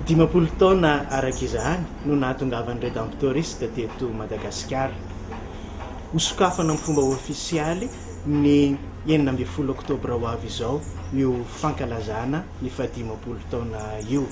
Dimampolo taona araka izany no nahatongavan'ny Redemptoriste teto Madagasikara. Ho sokafana amin'ny fomba ofisialy ny enina ambin'ny folo oktobra ho avy izao io fankalazana ny fahadimampolo taona io.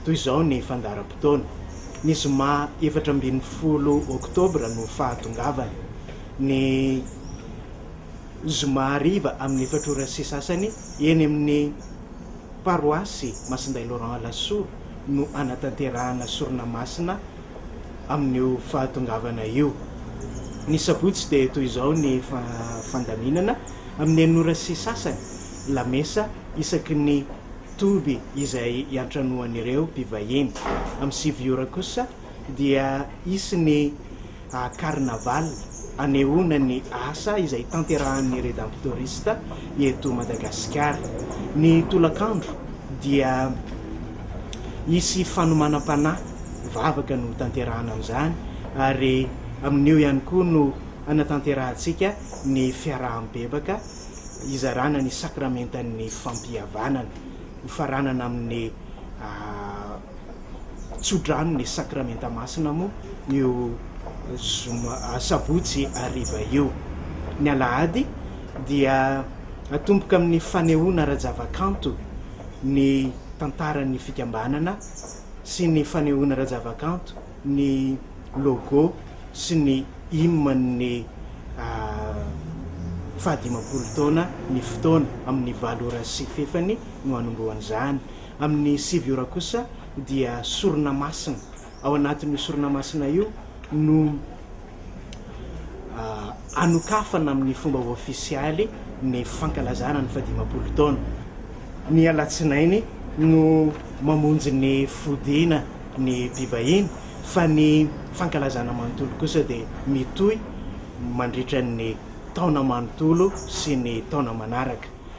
Toy izao ny fandaharam-potoana, ny zoma efatra ambin'ny folo oktobra no fahatongavany, ny. zoma hariva amin'ny efatra ora sy sasany eny amin'ny paroasy Masindahy Laurent Alasora no hanatanterahana sorona masina amin'io fahatongavana io. Ny sabotsy dia toy izao ny fandaminana, amin'ny enina ora sy sasany, lamesa isaky ny toby izay iantranoan'ireo mpivahiny, amin'ny sivy ora kosa, dia hisy ny carnaval hanehoana ny asa izay tanterahan'ny Redemptorista eto Madagasikara. Ny tolakandro dia hisy fanomanam-panahy, vavaka no hotanterahana an'izany ary amin'io ihany koa no hanatanterahantsika ny fiaraha-mibebaka hizarana ny sakramentan'ny fampihavanana, hofaranana amin'ny tsodrano ny Sakramenta Masina moa io zoma sabotsy hariva io. Ny alahady dia atomboka amin'ny fanehoana ara-javakanto ny tantaran'ny fikambanana sy ny fanehoana ara-javakanto ny logo sy ny hymne-n'ny fahadimampolo taona ny fotoana, amin'ny valo ora sy fefany no hanombohan'izany. Amin'ny sivy ora kosa dia sorona masina. Ao anatin'io sorona masina io no anokafana amin'ny fomba ofisialy ny fankalazana ny fahadimampolo taona. Ny alatsinainy no mamonjy ny fodiana ny mpivahiny fa ny fankalazana manontolo kosa dia mitohy mandritra ny taona manontolo sy ny taona manaraka.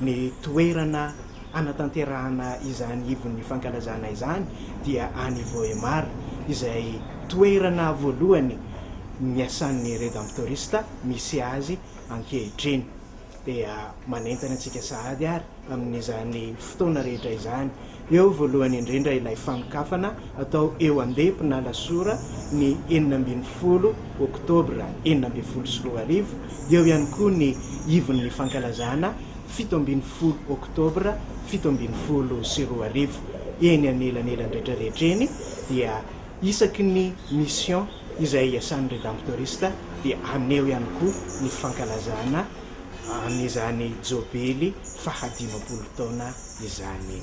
ny toerana hanatanterahana izany ivon'ny fankalazana izany dia any Vohémar, izay toerana voalohany niasan'ny Redemptorista misy azy ankehitriny. Dia manentana antsika sahady ary amin'izany fotoana rehetra izany, Eo voalohany indrindra ilay fanokafana atao eo Andemponala sur ny enina ambin'ny folo oktobra enina ambin'ny folo sy roa arivo, dia eo ihany koa ny ivon'ny fankalazana fito ambin'ny folo oktobra fito ambin'ny folo sy roa arivo. Eny anelanelany rehetra rehetra eny dia isaky ny mission izay iasan'ny Redemptoriste dia haneho ihany koa ny fankalazana an'izany jobily fahadimampolo taona izany.